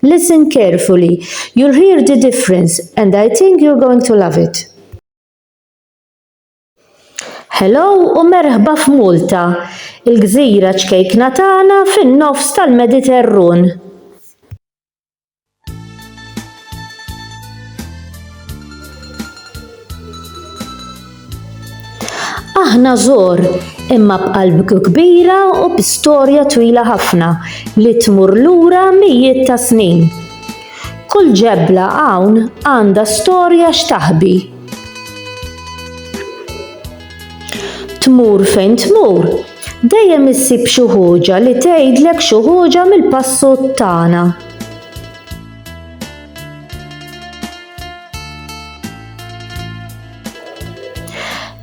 Listen carefully, you'll hear the difference and I think you're going to love it. Hello u merħba f'Malta, il-gżira ċkejkna tagħna fin-nofs tal-Mediterrun. Aħna żor, imma b'qalb kbira u b'istorja twila ħafna li tmur lura mijiet ta' snin. Kull ġebla hawn għandha storja x'taħbi. Tmur fejn tmur, dejjem issib xi ħoġa li tgħidlek xi ħoġa mill-passut tagħna.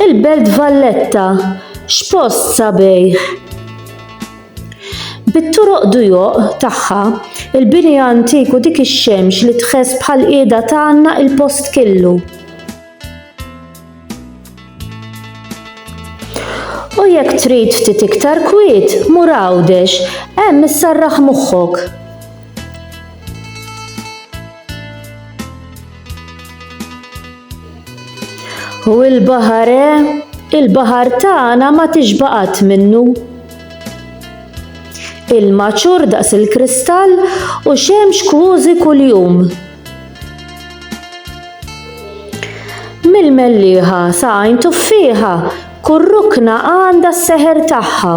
Il-Belt Valletta x'post sabej. Bit-turoq dujoq tagħha, il-bini antik u dik ix-xemx li tħess bħal qiegħda tagħna il-post killu. U jekk trid ftit iktar kwiet, mur għawdex, hemm issarraħ moħħok. U l-baħar e, il-baħar tagħna ma tixbaqat minnu. Il-maċur daqs il-kristall u xemx kwozi kuljum. Mill-melliħa sa għajn tuffiħa, kurrukna għanda s-seħer tagħha.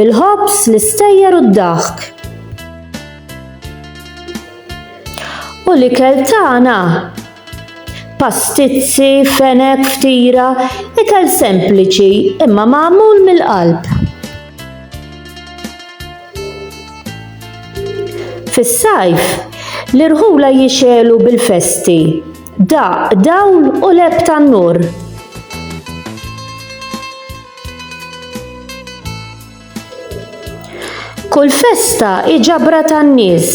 Il-ħobż, l-istejjer u d-daħk. U l-ikel tagħna pastizzi, fenek, ftira, ikel sempliċi imma magħmul mill-qalb. Fis-sajf, l-irħula jixelu bil-festi, daq, dawl u leb tan-nur. Kull festa iġabra tan-nies,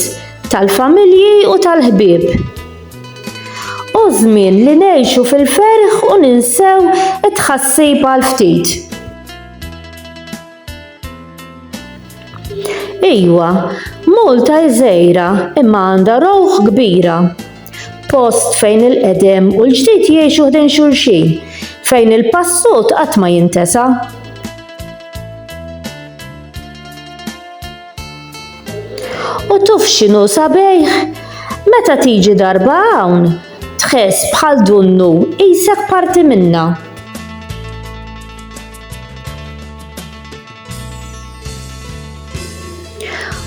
tal-familji u tal-ħbieb. U żmien li ngħixu fil-ferħ u ninsew it-tħassib għal ftit. Iwa, Malta iżejra imma għandha rowħ kbira. Post fejn il-qedem u l-ġdid jgħixu ħdejn xulxin, fejn il-passut qatt ma jintesa. U tuf xinu sabej, meta tiġi darba hawn, tħess bħal dunnu isek parti minna.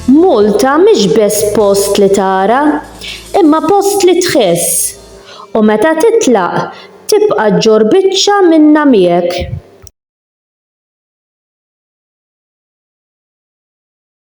Malta mhix biss post li tara, imma post li tħiss, u meta titlaq tibqa' ġġorr biċċa minnha miegħek.